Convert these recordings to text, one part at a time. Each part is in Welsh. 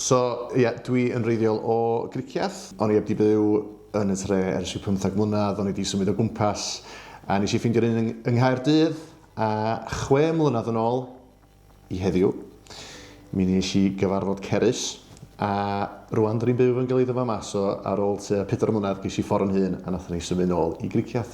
So, ie, dwi yn wreiddiol o Gricieth. O'n i heb 'di byw yn y tre ers rhyw pymtheg mlynedd, o'n i 'di symud o gwmpas, a nes i ffeindio'r un yng yng Nghaerdydd, a chwe mlynedd yn ôl i heddiw, mi nes i gyfarfod Cerys, a rŵan 'dyn ni'n byw yn Gyllido fama, so ar ôl tua pedwar mlynedd ges i ffor' yn hun a nathon ni symud nôl i Gricieth.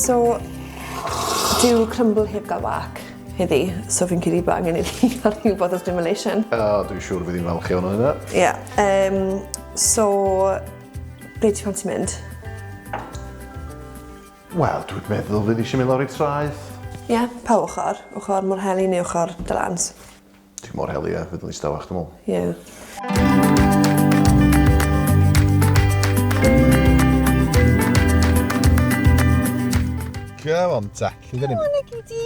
So, dyw crumble heb gael wac heddi, so fi'n cyd i ba angen i fi cael rhyw bod o stimulation. A, uh, dwi'n siŵr fydd i'n falch iawn o hynna. Ie. Yeah, um, so, ble ti'n fanti mynd? Wel, dwi'n meddwl fydd eisiau mynd lawr i traeth. Ie, yeah, pa ochr? Ochr mor heli neu ochr dylans? Dwi mor hel ia, fydd yn ddistawa chdi me'wl. Ie. Come on ta, lle dyn ni? Wel, na gei di.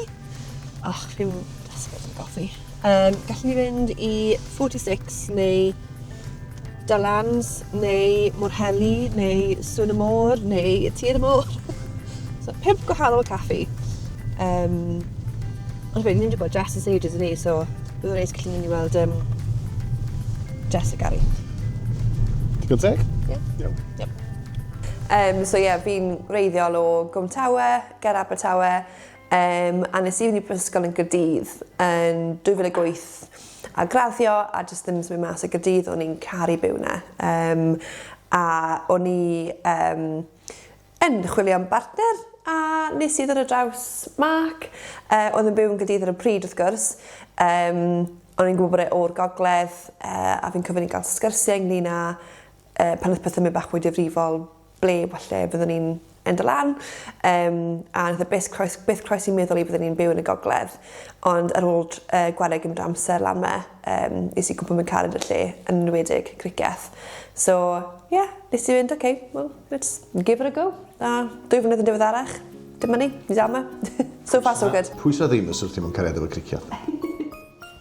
Och, fi'n desperate am goffi. Yym, gallen ni fynd i 46 neu Dallans neu Mwrheli neu Sŵn y Môr neu Tir y Môr. so pump gwahanol caffi. Um, ond fe, ni'n wedi bod Jess yn ages yn ni, so bydd o'n neis gallu mynd i weld um, Jess a Gary. Digon teg? Ie. Yeah. Iawn. Yep. Um, so ie, yeah, fi'n reiddiol o Gwm Tawe, ger Abertawe. Yym, a nes i fynd i brifysgol yn Gaerdydd yn 2008 a graddio a jyst ddim yn symud mas o Gaerdydd, o'n i'n caru byw yna. Yym, a o'n i yym, yn chwilio am bartner a nes i ddod ar draws Mark, yy, oedd yn byw yn Gaerdydd ar y pryd wrth gwrs, yym, o'n i'n gwybod bod e o'r gogledd yy a fi'n cofio ni'n cael sgyrsiau ynglyn â yy pan oedd pethau'n mynd bach mwy difrifol, ble falle fyddwn ni'n end o lan, um, a nath e byth croes, byth croes i meddwl i byddwn ni'n byw yn y gogledd. Ond ar ôl uh, gwario gymryd amser lan me, um, nes i gwybod mewn carad y lle, yn enwedig criceth. So, ie, yeah, nes i fynd, oce, okay, well, let's give it a go. A dwy flynedd yn diweddarach, dyma ni, ni dal yma. so far, so good. Pwy sydd ddim yn syrthio mewn cariad efo criceth?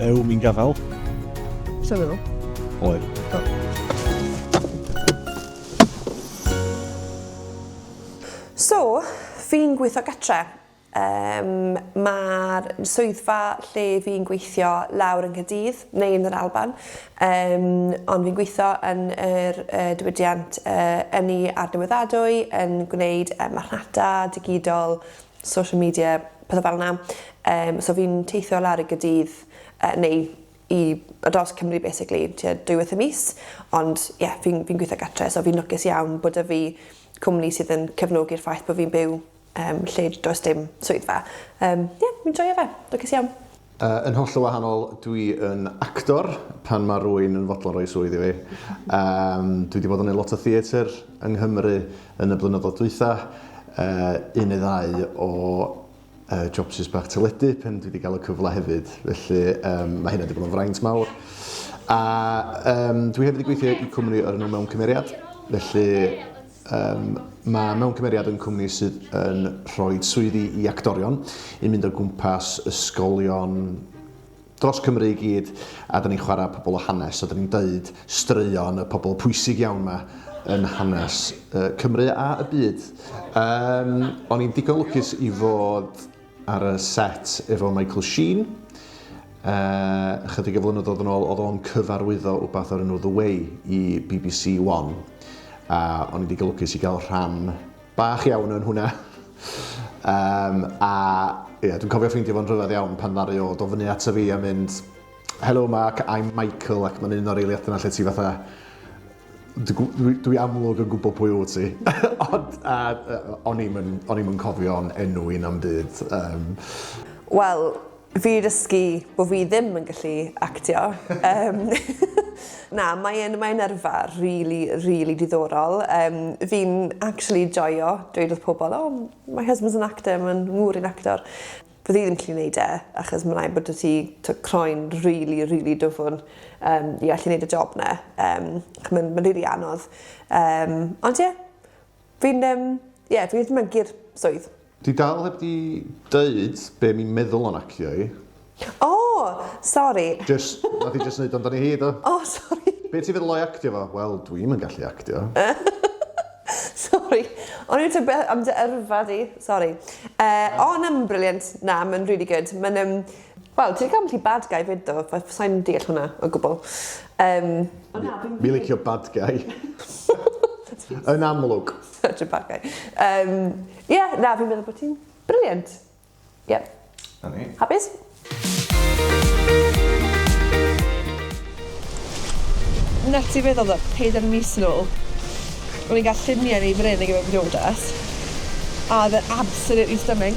Ew, mi'n gafael. Sa nhw? Oer. So, fi'n gweithio gatre. Um, Mae'r swyddfa lle fi'n gweithio lawr yng Nghydydd, neu yn yr Alban, um, ond fi'n gweithio yn yr uh, diwydiant uh, ynni a'r newyddadwy, yn gwneud uh, marchnata digidol, social media, pethau fel yna. Um, so fi'n teithio lawr i gydydd, uh, neu i dros Cymru basically, tua dwywaith y mis. Ond ie, yeah, fi'n fi gweithio gatre, so fi'n lwcus iawn bod y fi cwmni sydd yn cefnogi'r ffaith bod fi'n byw um, lle does dim swyddfa. Um, ie, yeah, fi'n joio fe, lwcus iawn. Yy yn hollol wahanol, dwi yn actor pan mae rwy'n yn fodlon rhoi swydd i fi. Yym, dwi wedi bod yn neud lot o theatr yng Nghymru yn y blynyddoedd dwytha, yy un neu ddau o yy jobsus bach teledu pan dwi wedi cael y cyfle hefyd, felly yym mae hynna wedi bod yn fraint mawr. A yym dwi hefyd wedi gweithio i cwmni o'r enw Mewn Cymeriad, felly... Ym, Mae mewn cymeriad yn cwmni sydd yn rhoi swyddi i actorion i mynd o gwmpas ysgolion dros Cymru i gyd a da ni'n chwarae pobl o hanes a da ni'n deud straeon y pobl pwysig iawn yma yn hanes Cymru a y byd. Ym, O'n i'n digon lwcus i fod ar y set efo Michael Sheen. Uh, chydig o flynyddoedd yn ôl, oedd o'n cyfarwyddo wbath o'r enw The Way i BBC One. A o'n i wedi golygus i gael rhan bach iawn yn hwnna. um, a yeah, dwi'n cofio ffeindio fo'n rhyfedd iawn pan ddari o do fyny ato fi a mynd Hello Mark, I'm Michael ac mae'n un o'r eiliadau yna lle ti fatha Dwi amlwg yn gwybod pwy wyt ti, ond o'n i'm yn cofio'n enw i na'm byd. Wel, fi 'di dysgu bod fi ddim yn gallu actio. Na, mae e'n mae e'n yrfa rili rili diddorol. Yym fi'n actually joio dweud wrth pobol oh my husband's an actor ma'n ngŵr i'n actor. Fydd hi ddim gallu neud e achos ma' raid bod 'da ti t'o' croen rili rili dwfwn yym i allu neud y job 'na yym ch' ma'n ma'n rili anodd yym ond ie fi'n yym ie fi jys myncu'r swydd. Dwi dal heb 'di deud be' mi'n meddwl o nacio i. O! Sori. Jyst, nath hi jyst neud o amdani hi do? O sori. Be' ti'n feddwl o'i actio fo? Wel dwi'm yn gallu actio. Sori, o'n i'n tybed am dy yrfa di. Sori. Uh, o, na, mae'n brilliant. Na, mae'n really good. Mae'n... Um, Wel, ti'n cael ti bad guy fyd do, fe sa'n deall hwnna o gwbl. Um, Mi licio bad guy. Yn amlwg. Such a bad guy. Um, yeah, na, fi'n meddwl bod ti'n brilliant. Ie. Na ni. Hapus? Net ti feddwl that pedair mis yn ôl o'n i'n cael lluniau yn ei fryn ar gyfer briodas a oedd e absolutely stunning.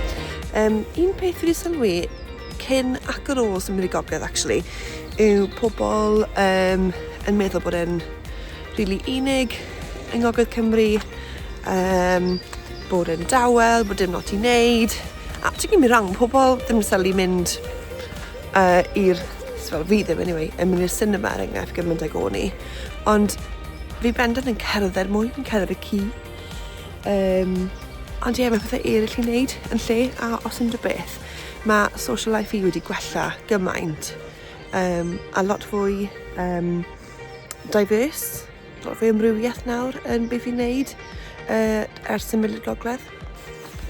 Um, un peth fi wedi sylwi cyn ac ar ôl symud i gogledd actually yw pobl um, yn meddwl bod e'n rili really unig yng Ngogledd Cymru um, bod e'n dawel, bod dim lot i wneud a ti'n gymryd rhan pobl ddim yn sylwi mynd uh, i'r fel fi ddim anyway, yn mynd i'r cinema er enghraifft gymaint ag o'n i ond fi bendant yn cerdded mwy yn cerdded y ci Um, ond ie, yeah, mae pethau eraill i wneud yn lle, a os unrhyw beth, mae social life i wedi gwella gymaint. Um, a lot fwy um, diverse, lot fwy amrywiaeth nawr yn beth i'n wneud uh, ers symud i'r gogledd.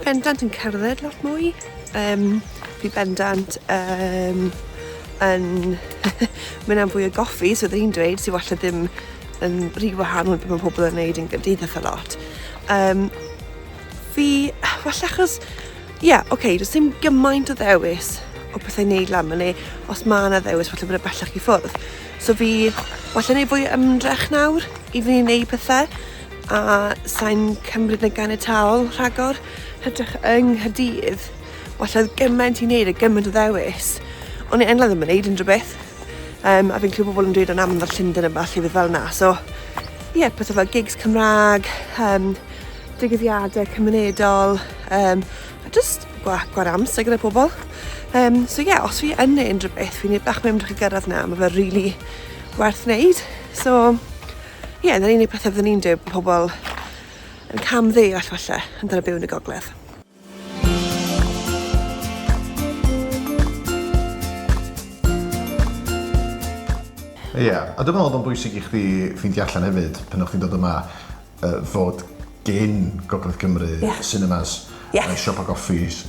Bendant yn cerdded lot mwy. Um, fi bendant um, yn mynd am fwy o goffi, so ddyn ni'n dweud sy'n falle ddim yn rhy wahanol beth mae pobl yn neud yn gymdeithas a lot. Um, fi, falle achos, ie, yeah, oce, okay, does dim gymaint o ddewis o bethau wneud lan fan os mae yna ddewis, falle bod y bellach i ffwrdd. So fi, falle wneud fwy ymdrech nawr i fi wneud pethau. a sa'n cymryd yn ganiataol rhagor, hytrach yng Nghaerdydd. Walle oedd gymaint i wneud a gymaint o ddewis, ond i enlla ddim yn wneud unrhyw beth. Um, a fi'n clywed pobl yn dweud o'n amlwg Llundain yn falle beth fel yna. So, ie, yeah, pethau fel gigs Cymraeg, um, digwyddiadau cymunedol, um, a just gwa, gwar amser gyda pobl. Um, so ie, yeah, os fi yn neud unrhyw beth, fi'n neud bach mewn drwy gyrraedd na, mae fe really werth wneud. So, Ie, yeah, na'r unig beth oeddwn i'n dweud bod pobl yn cam ddeall falle yn dal y byw yn y gogledd. Ie, yeah. a dwi'n meddwl oedd o'n bwysig i chdi ffeindio allan hefyd, pan o'ch chi'n dod yma, uh, fod gen Gogledd Cymru yeah. cinemas, yeah. uh, siopa goffis.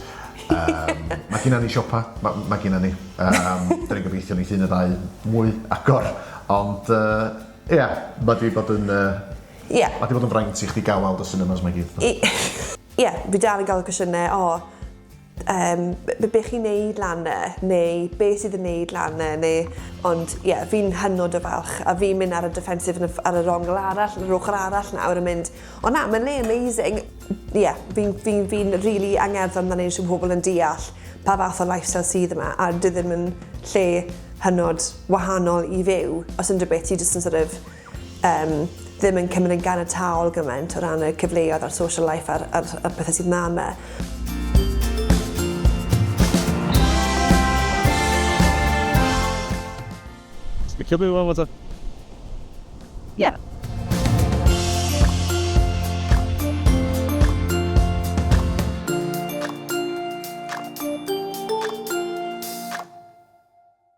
Um, mae gen ni siopa, mae ma gen ni. Um, Dyna ni'n gobeithio ni ffyn y ddau mwy agor, ond uh, Ia, ma' 'di bod yn yy... Ia. ...ma' 'di bod yn fraint i chdi ga'l weld y cinemas 'ma i gyd. I- Ia, fi dal yn ga'l cwestiyne o yym b- be' chi'n neud lan 'ne neu be' sydd yn neud lan 'ne neu ond ie fi'n hynod o falch a fi'n myn' ar y defensive yn y f- ar yr ongl arall yr ochor arall nawr yn mynd o na ma'n le amazing ie fi'n fi'n fi'n rili angerddol amdani shwd ma' pobol yn deall pa fath o lifestyle sydd yma a dyw ddim yn lle hynod wahanol i fyw, os unrhyw beth ti jyst yn sort of um, ddim yn cymryd yn ganiataol gymaint o ran y cyfleoedd a'r social life a'r, a'r, a'r pethau sydd na yma. Mae cael byw am o Yeah.